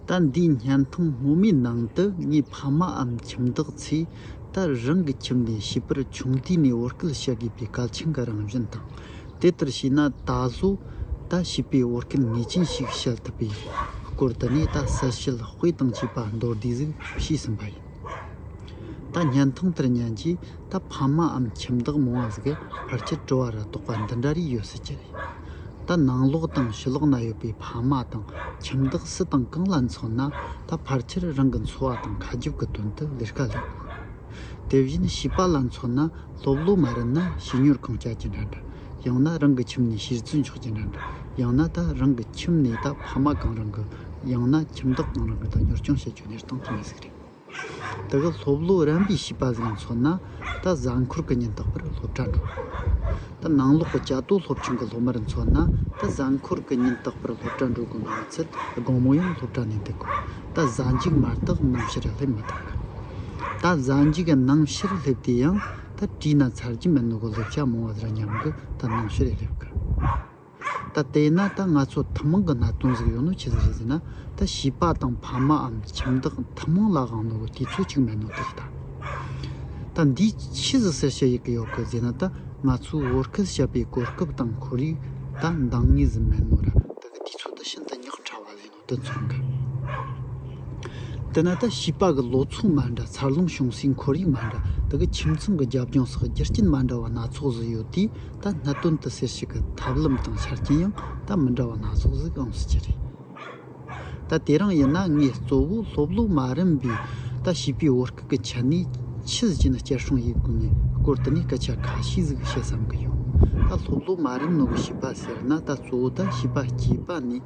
ད་འདིའི་བརྙན་ཐུང་སྔོན་མའི་ནང་དུ་ངའི་ཕ་མའམ་ཁྱིམ་བདག་ཚོས་ད་རང་གི་ཁྱིམ་ནས་བྱིས་པར་ཆུང་དུས་ནས་བོར་སྐལ་བྱ་དགོས་པའི་གལ་ཆེན་གྱི་རང་བཞིན་དང། དེ་ལྟར་བྱས་ན་ད་གཟོད་ད་བྱིས་པའི་བོར་སྐལ་ངེས་ཅན་ཞིག་བྱེད་ཐུབ་པའི་སྐོར་དུ་ནས་ད་གསལ་བཤད་དཔེ་དང་བཅས་པ་མདོར་བསྡུས་གཟིགས་ཞུས་ཟིན་པ་ཡིན། ད་བརྙན་ཐུང་དེར་ཉན་རྗེས་ད་ཕ་མ་འམ་ཁྱིམ་བདག་མོ་འང་ཟིག་གེ་ཕར་ཆེར་བྲོ་བ་ར་དོག་པ་འདི་འདྲ་རིགས་ཡོད་སྲིད་ཀྱི་རེད། ད་ནང་ལོག་དང་ཕྱི་ལོག་ན་ཡོད་པའི་ཕ་མ་དང་ཁྱིམ་བདག་སུ་དང་གང་ལ་མཚོན་ན་ད་ཕར་ཆེར་རང་གི་འཚོ་བ་དང་ཁ་རྒྱུག་གི་དོན་དུ་ལས་ཀ་ལས་ལ། དེ་བཞིན་བྱིས་པ་ལ་མཚོན་ན་སློབ་སློབ་མ་རེད་ན་བྱིས་གཉོར་ཁང་བསྐྱལ་གྱི་འདྲ་འདྲ་ཡང་ན་རང་གི་ཁྱིམ་ནས་ཕྱིར་བཙོན་ཆོག་གྱི་འདྲ་འདྲ་ཡང་ན་ད་རང་གི་ཁྱིམ་ནས་ད་ཕ་མ་གང་རང་གི་ཡང་ན་ཁྱིམ་བདག་གང་རང་གི་ད་གཉོར་སྐྱོང་བྱེད་རྒྱུ་ནས་སྟངས་ཀྱི་མེད་ཟིག་རེད། འདི་ག་སློབ་ལོ་རན་པའི་བྱིས་པ་ཟིག་ལ་མཚོན་ན་ད་གཟའ་འཁོར་གྱི་ཉིན་རྟག་པར་སློབ་གྲྭ་འགྲོ། ད་ནང་ལོག་གི་བྱ་དོ་སློབ་ཆུང་གི་སློབ་མར་མཚོན་ན་ད་གཟའ་འཁོར་གྱི་ཉིན་རྟག་པར་སློབ་གྲྭ་འགྲོ་དགོས་མིན་མི་ཚད་དགོང་མོ་ཡང་སློབ་གྲྭ་ནས་འདུག་གོ་ད་གཟའ་འཇིགས་མ་རྟག་ནམ་ཕྱིར་སླེབས་མི་ཐུབ། ད་གཟའ་འཇིགས་ནམ་ཕྱིར་སླེབས་དེ་ཡང་ད་བྲིས་ན་ཚར་གྱི་མིན་ནོ་གོ་སླེབས་ཆ་མང་བ་རེད་སྙམ་གི་ད་ནམ་ཕྱིར་སླེབས་དཀའ། ད་བལྟས་ན་ད་ང་ཚོ་ཐུན་མོང་གི་ན་དོན་ཟིག་ཡོད་ནོ་ཅི་ཟེར་ཟེར་ན་ད་བྱིས་པ་དང་ཕ་མའམ་ཁྱིམ་བདག་ཐུན་མོང་ལ་དབང་ནོར་བ་དེ་ཚོ་གཅིག་མེད་ནོ་ད་ལྟ། ད་འདི་ཕྱིས་སུ་སེར་ཤ་ཡི་གེ་ཡོག་གི་ཟེར་ན་ད་ང་ཚོས་བོར་སྐལ་བྱ་པའི་གོ་སྐབས་དང་ཁོར་ཡུག་ད་འདང་ངེས་ཟིག་མེད་ནོ་ར་ད་གི་དེ་ཚོ་ད་ཤིན་ཏུ་ཉག་ཕྲ་བ་ལེ་ནོ། དུ་མཚོན་གི། དེ་ནས་ད་བྱིས་པ་གི་ལོ་ཚུགས་མ་འདྲ་འཚར་ལོངས་བྱུང་སའི་འཁོར་ཡུག་མ་འདྲ་དེ་གི་ཁྱིམ་ཚང་གི་རྒྱབ་ལྗོངས་སོགས་རྒྱུ་རྐྱེན་མ་འདྲ་བ་སྣ་ཚོགས་ཟིག་ཡོད་དུས་ད་གནད་དོན་དུ་ཟེར་ཞིག་གི་ཐབས་ལམ་དང་ཆ་རྐྱེན་ཡང་ད་མི་འདྲ་བ་སྣ་ཚོགས་ཟིག་ཨང་སྲིད་ཀྱི་རེད། ད་དེ་རང་ཡིན་ན་ངས་གཙོ་བོ་སློབ་ལོ་མ་རིམ་པའི་ད་བྱིས་པའི་བོད་སྐད་གི་ཆ་ནས་ཁྱི་ཟིག་ཅེ་ན་སྐྱ་ཧྲུང་ཡིག་དགོས་ངའི་སྐོར་དུ་ནས་སྐད་ཆ་ཁ་ཤས་ཟིག་བཤད་བསམ་གི་ཡོད། ད་སློབ་ལོ་མ་རིམ་ནང་གི་བྱིས་པ་ཟེར་ན་ད་གཙོ་བོ་ད་བྱིས་པ་སྐྱེས་པ་ནས།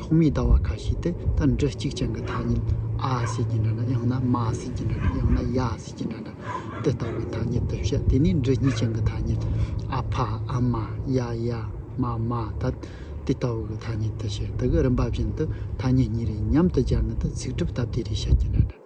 ཐོག་མའི་ལྟ་བ་ཁ་ཤས་དེ་ལྟར་འབྲི་གཅིག་ཅན་གྱི་ཐ་སྙད་ཨ་ཟེར་གྱི་འདྲ་འདྲ་ཡང་ན་མ་ཟེར་གྱི་འདྲ་འདྲ་ཡང་ན་ཡ་ཟེར་གྱི་འདྲ་འདྲ་དེ་ལྟ་བུའི་ཐ་སྙད་དེ་བཤད་དེ་ནས་འབྲི་གཉིས་ཅན་གྱི་ཐ་སྙད་ཨ་ཕ་ཨ་མ་ཡ་ཡ་མ་མ་ད་དེ་ལྟ་བུ་གྱི་ཐ་སྙད་དེ་བཤད་དེ་གི་རིམ་པ་བཞིན་དུ་ཐ་སྙད་གཉིས་རེ་མཉམ་དུ་སྦྱར་ནས་དུ་ཚིག་གྲུབ་སྟབས་བདེ་རེ་བཤད་ཀྱི་འདྲ་འདྲ།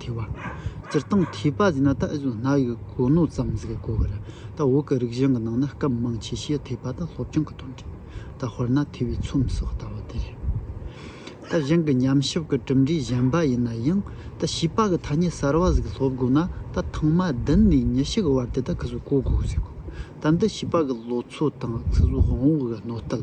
དེ་བ། སྤྱིར་བཏང་མཁས་པ་ཟེར་ན་ད་གཟོད་སྣ་ཡི་གོ་ནོར་ཙམ་ཟིག་གོ་གི་རེད་ད་འོག་གི་རིག་གཞུང་གི་ནང་ན་སྐབས་མང་ཆེ་ཤོས་དེ་བ་དང་སློབ་སྦྱོང་གི་དོན་རེད་ད་ཧོར་ན་ཐི་བའི་ཚོམས་སོགས་ལྟ་བ་དེ་རེད། ད་གཞན་གི་ཉམས་ཞིབ་གི་གྲུབ་འབྲས་གཞན་པ་ཡིན་ན་ཡང་ད་བྱིས་པ་གི་ཐ་སྙད་གསར་བ་ཟིག་སློབ་དགོས་ན་ད་ཐང་མ་བདུན་ནས་ཉི་ཤུ་གི་བར་དེ་ད་གི་གཟོད་གོ་དགོས་ཟིག་གོ་ད་འདི་བྱིས་པ་གི་ལོ་ཚོད་དང་ཚིག་གཟུགས་དབང་བོ་གི་གནོད་ལྟལ་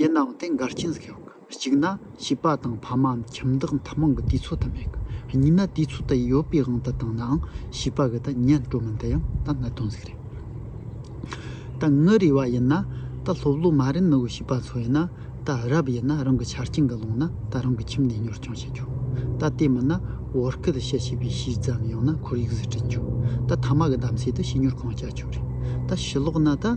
ཡེ་ནའོ་ཏེ་མགར་ཆེན་ཟེར་གི། གཅིག་ན་བྱིས་པ་དང་ཕ་མའམ་ཁྱིམ་བདག་མཐའ་མང་གི་དུས་ཚོད་ད་མེད་གི། གཉིས་ན་དུས་ཚོད་ད་ཡོད་པའི་དབང་ད་བཏང་ནའང་བྱིས་པ་གི་ད་ཉལ་འགྲོ་མིན་ད་ཡང་ད་གནད་དོན་ཟིག་རེད། ད་ངུ་རེ་བ་ཡིན་ན་ད་སློབ་ལོ་མ་རན་ནུ་བའི་བྱིས་པ་ཚོ་ཡིན་ན་ད་རབ་ཡིན་ན་རང་གི་ཆ་རྐྱེན་གི་ཀློང་ན་ད་རང་གི་ཁྱིམ་ནས་གཉོར་སྐྱོང་བྱེད་རྒྱུ། ད་དེ་མིན་ན་བོར་སྐད་བཤད་བྱེད་པའི་གཞི་ཙམ་ཡང་ན་ཁོར་ཡུག་ཟིག་བསྐྲུན་རྒྱུ། ད་ཐ་མ་གི་གདམ་གསེས་ད་བྱིས་གཉོར་གང་བྱ་ཆོག་རེད། ད་བྱིས་ལོག་ན་ད།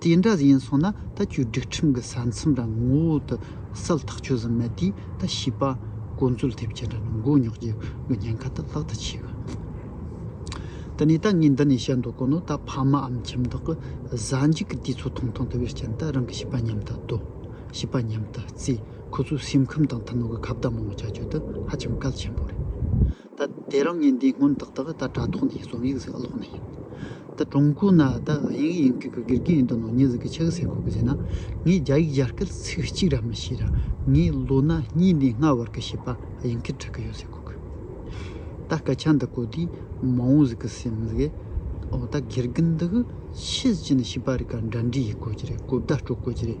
དེ་འདྲ་ཡིན་སོང་ན་ད་ཁྱོད་སྒྲིག་ཁྲིམས་ཀྱི་ས་མཚམས་རང་ངོ་བོ་དུ་གསལ་ཐག་ཆོད་ཟིན་མེད་དུས་ད་བྱིས་པ་དཀོན་རྩོད་ཐེབས་ཅི་འདྲ་ནི་མགོ་རྙོག་གྱི་གི་ཉེན་ཁ་ད་ལྷག་ཏུ་ཆེ་གི། ད་ནས་ད་ངས་འདི་ནས་བཤད་མདོག་གོ་ནོ་ད་ཕ་མ་ཨམ་ཁྱིམ་དག་གི་གཟའ་འཇུག་གི་དུས་ཚོད་ཐུང་ཐུང་དུ་བའི་རྐྱེན་ད་རང་གི་བྱིས་པ་མཉམ་དུ་སྡོད་བྱིས་པ་མཉམ་དུ་རྩིས་ཁོ་ཚོའི་སེམས་ཁམས་དང་ཐུན་མོང་གི་ཁ་བརྡ་མང་བོ་བྱ་རྒྱུ་དེ་ཧ་ཅང་གལ་ཆེན་པོ་རེད། ད་དེ་རང་ཉིད་འདི་སྔོན་ཏག་ཏག་ད་དྲ་ཐོག་ནས་རྩོམ་ཡིག་ཟིག་ཀློག་ནས་ཡོད། ད་ཀྲུང་གོ་ན་ད་ཡིན་གྱི་ཡིན་གྱི་གི་གིར་གིར་ཡིན་འདུག་ནོ་ངས་ཟིག་གི་ཆེ་གི་ཟེར་ཁུག་གི་ཟེར་ན་ངས་རྒྱ་ཡིག་ཡར་སྐད་ཚིག་གཅིག་ར་མི་ཤེས་ར་ངས་ལོ་ན་གཉིས་ནས་ལྔ་བར་གི་བྱིས་པ་ཡིན་གིར་བྲི་གི་ཡོད་ཟེར་ཁུག་གི། ད་སྐད་ཆ་འདི་གོ་དུས་མ་འོངས་ཟིག་གི་སེམས་ཟིག་གི་འོ་ད་གིར་གི་འདི་གི་ཕྱི་ཕྱི་ནས་བྱིས་པ་རིག་ག་འདྲ་འདྲའི་ཡིག་གོ་གི་རེད་གོ་བརྡ་སྤྲོད་དགོས་ཀྱི་རེད།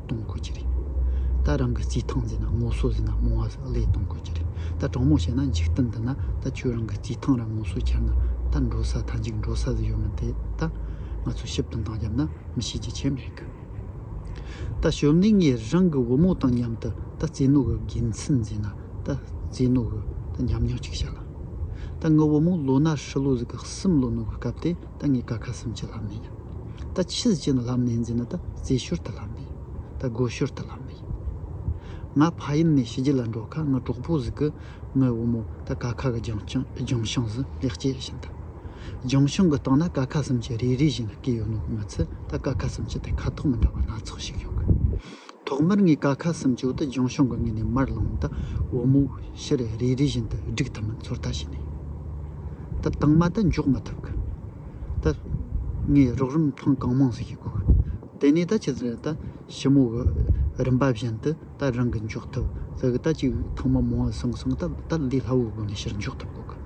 གཏོང་དགོས་ཀྱི་རེད། ད་རང་གི་རྩིས་ཐང་ཟེར་ན་ངོ་སོ་ཟེར་ན་རྨོ་བ་ཟེར་ན་ལས་གཏོང་དགོས་ཀྱི་རེད། ད་གྲོགས་མོ་བྱས་ན་འཇིག་རྟེན་འདི་ན་ད་ཁྱོད་རང་གི་རྩིས་ཐང་ར་ངོ་སོ་འཁྱེར་ན་ད་འགྲོ་ས་ད་འཇིག་འགྲོ་ས་ཟེར་ཡོད་མི་འདི་ད་ང་ཚོས་ཞིབ་ཏུ་འདང་བརྒྱབ་ན་མི་ཤེས་ཀྱི་ཆེད་མེད་གི། ད་ཞོལ་ནས་ངས་རང་གི་བུ་མོ་དང་མཉམ་དུ་ད་རྩིས་ནོར་གི་དགེ་མཚན་འཛིན་ན་ད་རྩིས་ནོར་གི་ད་ཉམས་མྱོང་གཅིག་བྱ་ལ། ད་ངའི་བུ་མོ་ལོ་ན་ཧྲིལ་བོ་ཟིག་གི་སུམ་ལོ་ནོར་གི་སྐབས་དེ། ད་ངས་ཀ་ཁ་སུམ་ཅུ་ལྷག་མེད། ད་ཕྱི་ཟེར་གྱི་ན་ལྷག་མེད་འཛིན་ན་ད་རྩེ་ཤོར་ད་ལྷག་མེད། ད་དགོད་ཤོར་ད་ལྷག་མེད། ང་ཕ་ཡུལ་ནས་ཕྱི་རྒྱལ་ལ་འགྲོ་ཁ་ང་གྲོགས་པོ་ཟིག་གི་ངའི་བུ་མོ་ད་ཀ་ཁ་གི་ལྗང་ལྗང་ཤིང་ཟི་ལེགས་སྐྱེས་བཞིན་ད། ལྗང་ཤིང་གི་སྟེང་ན་ཀ་ཁ་སུམ་ཅུ་རེ་རེ་བཞིན་ལ་སྐྱེས་ཡོད་ནོ་གི་ང་ཚོས་ད་ཀ་ཁ་སུམ་ཅུ་དེ་ཁ་དོག་མི་འདྲ་བ་སྣ་ཚོགས་ཤིག་ཡོད་གི། ཐོག་མར་ངས་ཀ་ཁ་སུམ་ཅུ་དང་ལྗོངས་གཞུང་གི་ངོས་ནས་མར་ལངས་དང་འོ་མ་ཤར་རེ་རེ་བཞིན་དུ་སྒྲིག་ཐུབ་མིན་ཚོད་ལྟ་བྱས་ནས་ད་དང་མ་ད་འཇོག་མ་ཐུབ་ཀི། ད་ངས་རོགས་རིམ་ཐེངས་གང་མང་ཞིག་བྱེད་དགོས་ཀི། དེ་ནས་ད་ཇི་ཙམ་རེ་ད་ཞིབ་མོ་གི་རིམ་པ་བཞིན་དུ་ད་རང་གིས་འཇོག་ཐུབ་ཟེར་གི་ད་གཅིག་ཐེངས་མ་མང་བ་སོང་སོང་ད་ད་འདི་སླ་བོའི་སྒོ་ནས་ཕྱིར་འཇོག་ཐུབ་དགོས་ཀི།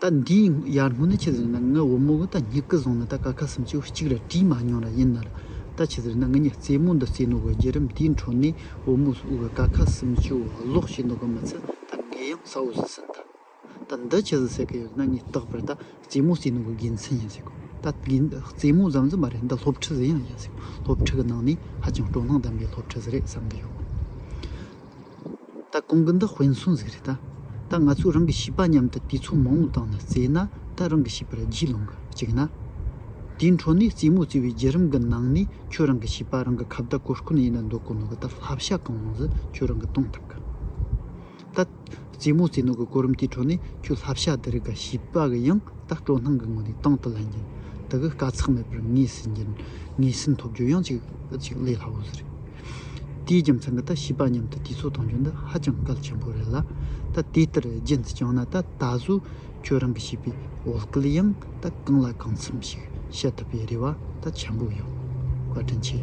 ད་འདི་ཡར་སྔོན་ན་ཁྱེད་ཟེར་ན་ང་འོ་མོ་ད་སྙིགས་ཀི་བཟུང་ན་ད་ཀ་ཁ་སུམ་ཅུ་གཅིག་ར་བྲིས་མ་མྱོང་ར་ཡིན་ན་ར་ད་ཁྱེད་ཟེར་ན་ང་གཉིས་རྩེད་མོ་འདི་རྩེད་ནོ་ག་རྒྱལ་རབས་འདིའི་འཕྲོ་ནས་འོ་མོ་སུ་ག་ཀ་ཁ་སུམ་ཅུ་བ་ལོག་བྱེད་ནོ་ག་མི་ཚེ་ད་ངའི་ཡང་ས་འོ་ཟི་ཟིན་ད་ད་འདི་ཁྱེད་ཟེར་གི་ཡོད་ན་ངས་རྟག་པར་ད་རྩེད་མོ་རྩེད་ནོ་ག་དགེ་མཚན་ཡིན་ཟེར་གོ་ད་དགེ་རྩེད་མོ་ཙམ་ཙམ་མ་རེད་འདི་སློབ་ཁྲིད་ཟེར་ཡང་ཡིན་ཟེར་སློབ་ཁྲིད་གི་ནང་ནས་ཧ་ཅང་སྤྲོ་སྣང་ལྡན་པའི་སློབ་ཁྲིད་ཟེར་རེད་བསམ་གི་ཡོད། ད་གོང་གི་འདི་དཔེ་མཚོན་ཟིག་རེད་ད། ད་ང་ཚོས་རང་གི་བྱིས་པ་མཉམ་དུ་དུས་ཚོད་མང་བོ་བཏང་ནས་བཙས་ན་ད་རང་གི་བྱིས་པར་རྗེས་ལོངས་ག་ཅིག་ན། དེའི་འཕྲོ་ནས་རྩེད་མོ་རྩེ་བའི་རྒྱུད་རིམ་གི་ནང་ནས་ཁྱོད་རང་གི་བྱིས་པ་རང་གི་ཁ་བརྡ་གོ་སྐོན་ཡིན་ན་འདོད་གོ་ནོར་གི་ད་བསླབ་བྱ་གང་རུང་ཟིག་ཁྱོད་རང་གི་གཏོང་ཐུབ་གི། ད། རྩེད་མོ་རྩེ་ནོར་གི་གོ་རིམ་དེའི་འཕྲོ་ནས་ཁྱོད་བསླབ་བྱ་འདི་རིགས་ག་བྱིས་པ་གི་ཡང་ད་སྤྲོ་སྣང་གི་ངོས་ནས་དང་དུ་ལེན་རྒྱུ། འདི་གི་དཀའ་ཚེགས་མེད་པར་ངེས་ཟིན་རྒྱུ། ངེས་ཟིན་ཐོབ་རྒྱུ་ཡང་ཅིག་ཅིག་ལས་སླ་བོ་ཟིག་རེད། དེའི་རྒྱུ་མཚན་གྱིས་ད་ཤི་པ་མཉམ་དུ་དུས་ཚོད་དང་བྱོན་ན་ཧ་ཅང་གལ་ཆེན་པོ་རེད་ལ། ད་དེ་ལྟར་རྗེས་འདི་བསྐྱངས་ན་ད་ད་གཟོད་ཁྱོད་རང་གི་བྱིས་པའི་འོ་སྐལ་ཡང་ད་གང་ལ་གང་འཚམས་ཤིག་བཤད་ཐུབ་པའི་རེ་བ་ད་ཆེན་པོ་ཡོད། བཀའ་དྲིན་ཆེ།